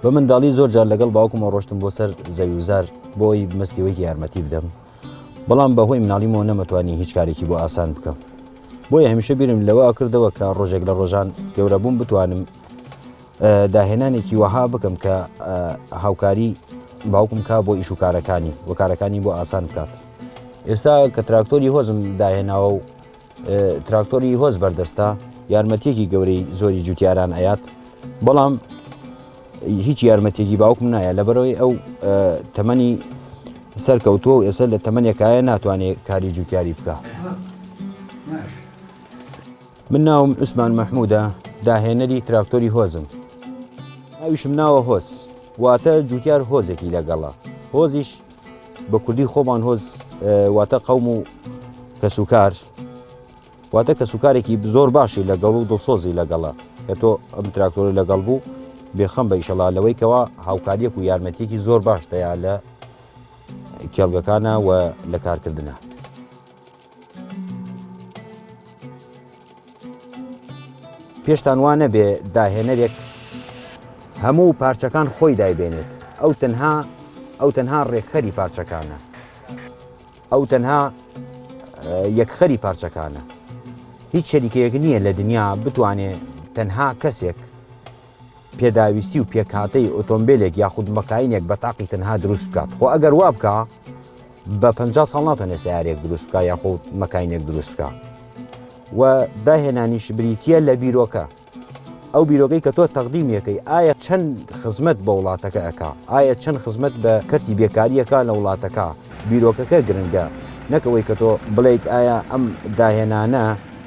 بە منداڵی زۆر جار لەگەڵ باوکمەوە ڕۆشتم بۆ سەر زەویوزار بۆی مەستیوەیەکی یارمەتی بدەم بەڵام بەهۆی مناڵیمەوە نەمەتوانی هیچ کارێکی بۆ ئاسان بکەم بۆیە هەمیشە بیرم لەوە کردەوە کە ڕۆژێک لە ڕۆژان گەورەبووم بتوانم داهێنانێکی وەها بکەم کە هاوکاری باوکم کا بۆ ئیش و کارەکانی و کارەکانی بۆ ئاسان بکات ئێستا کە تراکتۆری هۆزم داهێناوە و تراکتۆری هۆز بەردەستە یارمەتیەکی گەورەی زۆری جوتیاران ئەیات بەڵام هیچ یارمەتێکی باوکم نایە لەبەرەوەی ئەو تەمەنی سەرکەوتووە و ئێستا لە تەمەنێکایە ناتوانێت کاری جوتیاری بکە. من ناوم عوسمان مەحموودە داهێنەری تراکتۆری هۆزم ئەویشم ناوە هۆز واتە جوتیار هۆزێکی لەگەڵە هۆزیش بە کوردی خۆمان هۆز واتە قەوم و کەسوکار واتە کەسوکارێکی زۆر باشی لەگەڵ و دڵسۆزی لەگەڵە کە تۆ ئەم تراکتۆری لەگەڵ بوو بێخەم بە ئیشەڵا لەوەی کەوا هاوکاریەک و یارمەتیەکی زۆر باش دەیان لە کێڵگەکانە و لە کارکردە. پێشتان وا نەبێ داهێنەرێک هەموو پارچەکان خۆی دایبێنێت ئەو تەنها ئەو تەنها ڕێکخەری پارچەکانە ئەو تەنها یەکخەری پارچەکانە هیچ شەریکەیەک نییە لە دنیا بتوانێت تەنها کەسێک پێداویستی و پێکهاتەی ئۆتۆمبیلێک یاخود مەکاینێک بە تاقی تەنها دروست بکات خۆ ئەگەر وا بکە بە پ ساڵ ناتەنێ سیارێک دروست بکە یاخود مەکاینێک دروست بکە و داهێنانیش بریتە لە بیرۆکە ئەو بیرۆگەی کە تۆ تەقدیمیەکەی ئایا چەند خزمەت بە وڵاتەکە ئەک ئایا چەند خزمەت بە کەرتی بێکاریەکە لە وڵاتەکە بیرۆکەکە گرنگە نەکەوەی کە تۆ بڵیت ئایا ئەم داهێنانە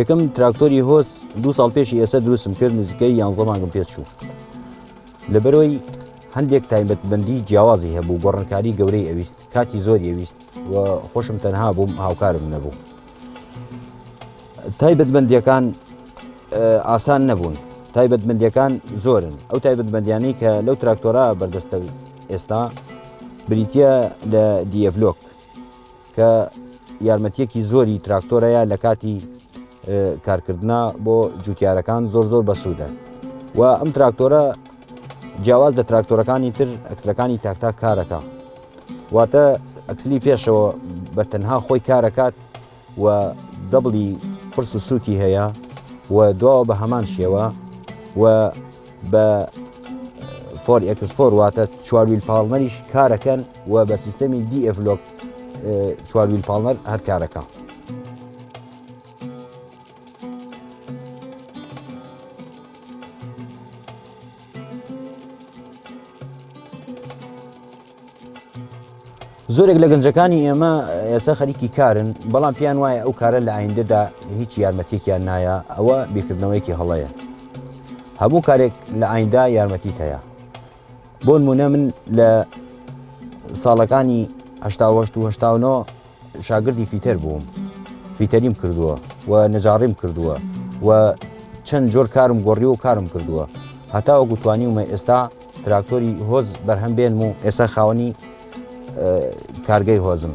یەکەم تراکتۆری هۆس دو ساڵ پێشی ئێستا دروستم کرد نزیکەی یانزە مانگم پێ چوو لەبەرەوەی هەندێک تایبەت بەندی جیاوازی هەبوو گۆڕنکاری گەورەی ئەویست کاتی زۆر ئەویست و خۆشم تەنها بووم هاوکارم نەبوو تایبەتمەندیەکان ئاسان نەبوون تایبەتمەندیەکان زۆرن ئەو تایبەتمەندیانی کە لەو تراکتۆرا بەردەستە ئێستا بریتە لە دیڤلۆک کە یارمەتیەکی زۆری تراکتۆرەیە لە کاتی کارکردە بۆ جوتیارەکان زۆر زۆر بەسوودە و ئەم تراکتۆرە جیاواز لە تراکتۆرەکانی تر ئەکسلەکانی تاکتا کارەکە واتە ئەکسلی پێشەوە بە تەنها خۆی کارەکات و دەبڵی قرس و سووکی هەیە و دواوە بە هەمان شێوە و بە فۆر ئەکسفۆر واتە چوارویل پاڵمەریش کارەکەن و بە سیستەمی دیئفلۆک چوارویل پاڵمەر هەر کارەکە. زۆرێک لە گەنجەکانی ئێمە ئێستا خەریکی کارن بەڵام پێیان وایە ئەو کارە لە ئایندەدا هیچ یارمەتێکیان نایە ئەوە بیکردنەوەیەکی هەڵەیە هەموو کارێک لە ئایندا یارمەتیت هەیە بۆن مونە من لە ساڵەکانی هەشتاهشت و هشتاونەوە شاگردی فیتەر بووم فیتەریم کردووە و نەجاڕیم کردووە و چەند جۆر کارم گۆڕی و کارم کردووە هەتاوە گوتوانی ومە ئێستا تراکتۆری هۆز بەرهەم بێنم و ئێستا خاوەنی کارگەی هۆزم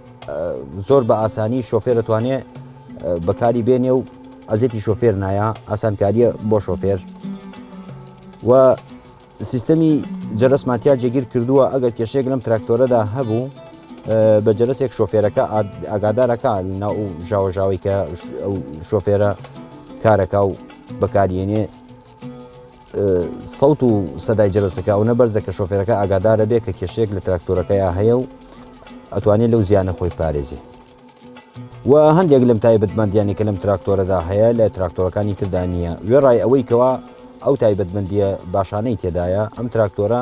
زۆر بە ئاسانی شۆفێر دەتوانێت بەکاری بێنێ و ئەزێتی شۆفێر نایە ئاسانکاریە بۆ شۆفێر و سیستەمی جەرەسماتیا جێگیر کردووە ئەگەر کێشێک لەم تراکتۆرەدا هەبوو بە جەرەسێک شۆفێرەکە ئاگادارەکە نا و ژاوەژاوی کە شۆفێرە کارەکە و بەکارێنێ سەوت و سەدای جەرەسەکە ئەو نەبەرزە کە شۆفێرەکە ئاگادارە بێ کە کێشێک لە تراکتۆرەکەیان هەیە و ئەتوانێت لەو زیانە خۆی پارێزی و هەندێک لەم تایبەتمەندیانی کە لەم تراکتۆرەدا هەیە لە تراکتۆرەکانی تردا نییە وێڕای ئەوەی کەوا ئەو تایبەتمەندیە باشانەی تێدایە ئەم تراکتۆرە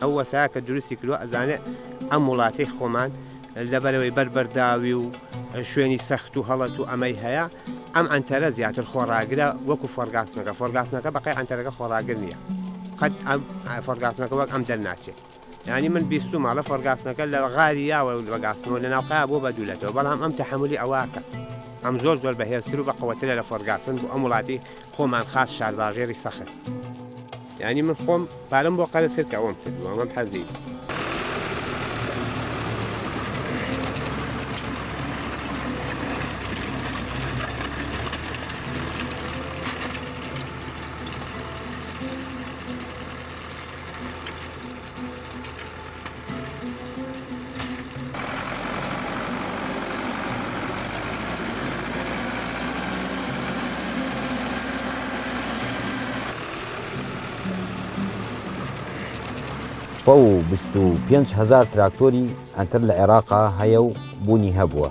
ئەو وەسایە کە دروستی کردوە ئەزانێت ئەم وڵاتەی خۆمان لەبەرەوەی بەر بەرداوی و شوێنی سەخت و هەڵەت و ئەمەی هەیە ئەم ئەنتەرە زیاتر خۆڕاگرە وەکو فۆرگاسنەکە فۆرگاسنەکە بەقی ئەنتەرەکە خۆڕاگر نییە قەت ئەم فۆرگاسنەکە وەک ئەم دەرناچێت ینی من بیستو ماڵە فۆرگاسنەکە لە غاری یاوە و بەگاسنەوە لە ناوقا بۆ بەدولێتەوە بەڵام ئەم تەحملی ئەوواکە ئەم زۆر زۆر بەهێزتر و بە قوترە لە فۆرگاسن بۆ ئەم وڵاتی خۆمان خاس شارباژێری سەخت. یانی من خۆم پارەم بۆ قەرز کرد کە ئەوەم کردووە ئەمەم حەز نیم. سەد و بیست و پێنج هەزار تراکتۆری ئەنتەر لە عێراقا هەیە و بوونی هەبووە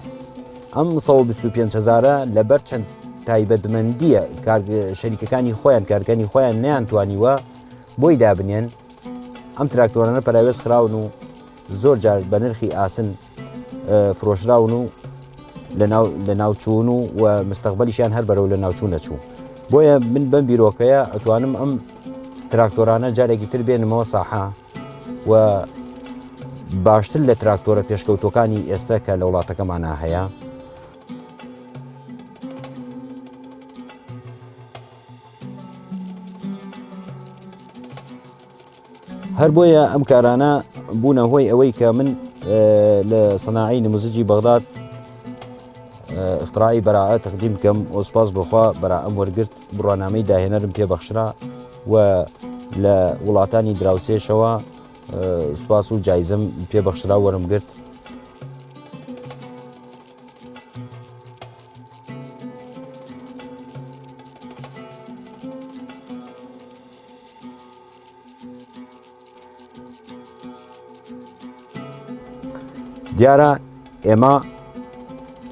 ئەم 125 هزارە لەبەر چەند تایبەتمەندیە شەریکەکانی خۆیان کارگەنی خۆیان نیان توانیوە بۆی دابنێن ئەم تراکتۆرانە پەراوێز خراون و زۆر جار بە نرخی ئاسن فرۆشراون و لە ناوچوون و و مستەقبلیشیان هەر بەرەو لە ناوچوو نەچوو بۆیە من بەم بیرۆکەیە ئەتوانم ئەم تراکتۆرانە جارێکی تر بێنمەوە ساحە و باشتر لە تراکتۆرە پێشکەوتەکانی ئێستا کە لە وڵاتەکەمانە هەیە هەر بۆیە ئەم کارانە بوونە هۆی ئەوەی کە من لە سەناعی نموزجی بەغداد اختراعی بەراە تەقدیم بکەم ئۆسپاس بخوا بەرا ئەم وەرگرت بڕوانامەی داهێنەرم پێبەخشرا و لە وڵاتانی دراوسێشەوە سوپاس و جایزم پێبەخشرا وەرم گرت دیارە ئێمە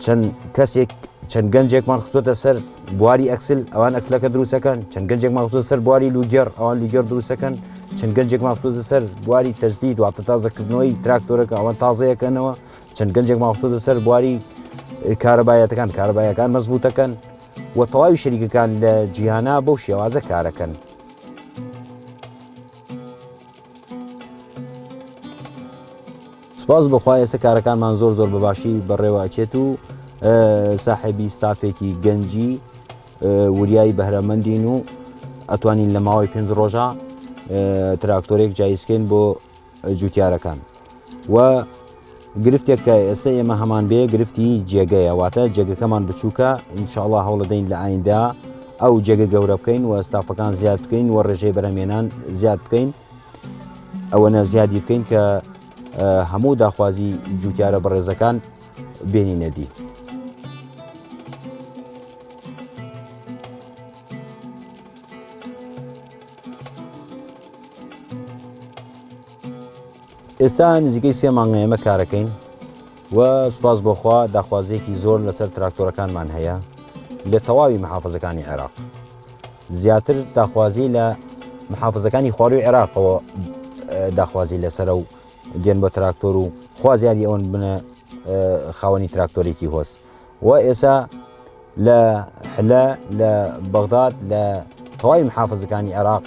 چەند کەسێک چەند گەنجێکمان خستۆتە سەر بواری ئەکسل ئەوان ئەکسلەکە دروستەکەن چەند گەنجێک ماخۆ سەر بواری لوگەر ئەوان لوگەر دروستەکەن چەند گەنجێک ماخۆ سەر بواری تەجدی دواتە تازەکردنەوەی تراکتۆرەکە ئەوان تازەیەکەنەوە چەند گەنجێک ماوەتە سەر بواری کارەبایەتەکان کارەبایەکان مەزبووتەکەن و تەواوی شەریکەکان لە جیهانە بەو شێوازە کارەکەن سپاس بەخوا ئێستا کارەکانمان زۆر زۆر بەباشی بەڕێوەچێت و ساحبی ستافێکی گەنجی وریایی بەهرەمەندین و ئەتوانین لە ماوەی پێنج ڕۆژە تراکتۆرێک جاییسکەین بۆ جوتیارەکان و گرفتێک کە ئێستا ئێمە هەمان بێ گرفتی جێگەیە واتە جێگەکەمان بچووکە ئینشاءڵا هەوڵدەین لە ئایندا ئەو جێگە گەورە بکەین و ئەستافەکان زیاد بکەین و ڕێژەی بەرەمێنان زیاد بکەین ئەوەنە زیادی بکەین کە هەموو داخوازی جوتیارە بەڕێزەکان بێنی نەدی. ئێستا نزیکەی سێ مانگە ئێمە کارەکەین و سوپاس بۆخوا داخوازیەکی زۆر لەسەر تراکتۆرەکانمان هەیە لە تەواوی محافزەکانی عێراق زیاتر داخوازی لە محافزەکانی خواروی عێراقەوە داخوازی لەسرە و دێن بە تراکتۆر و خوازیاری ئەوەن بنە خاوەنی تراکتۆرێکی هۆست و ئێسا لە حلە لە بەغداد لە تەواوی محافزەکانی عێراق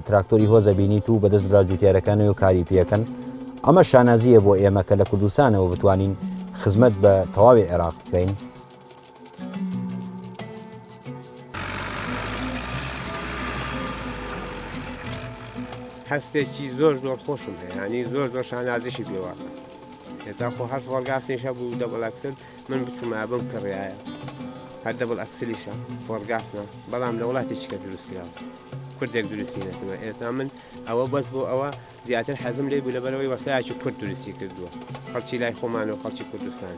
تراکتۆری هۆزە بینیت و بەدەست برا جوتیارەکانەوە و کاری پێەکەن ئەمە شانازیە بۆ ئێمە کە لە کوردستانەوە بتوانین خزمەت بە تەواوی عێراق بکەین هەستێکی زۆر زۆر خۆشم هەیەنی زۆر زۆر شانازیشی پێوە هێتا خۆ هەر فۆرگاسیش هەبوو دەبڵ ئەکسل من بچوومە بم کڕایە هەر دەبڵ ئەکسلیشە فۆرگاسە بەڵام لە وڵاتی چکە دروستکراوە کوردێک دروستی نەکردوە ئێستا من ئەوە بەس بۆ ئەوە زیاتر حەزم لێ بوو لەبەرەوەی وەسایکی کورد دروستی کردووە خەڵکی لای خۆمان و خەڵکی کوردستان.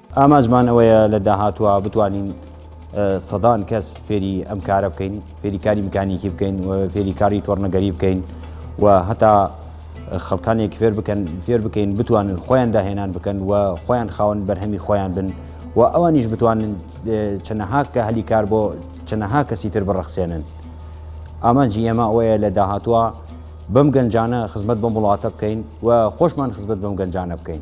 ئامانجمان ئەوەیە لە داهاتووە بتوانین سەدان کەس فێری ئەم کارە بکەین فێری کاری میکانیکی بکەین و فێری کاری تۆڕنەگەری بکەین و هەتا خەڵکانێک فێر بکەن فێر بکەین بتوانن خۆیان داهێنان بکەن و خۆیان خاون بەرهەمی خۆیان بن و ئەوانیش بتوانن چەنەها کە هەلی کار بۆ چەنەها کەسی تر بڕەخسێنن ئامانجی ئێمە ئەوەیە لە داهاتووە بەم گەنجانە خزمەت بەم وڵاتە بکەین و خۆشمان خزمەت بەم گەنجانە بکەین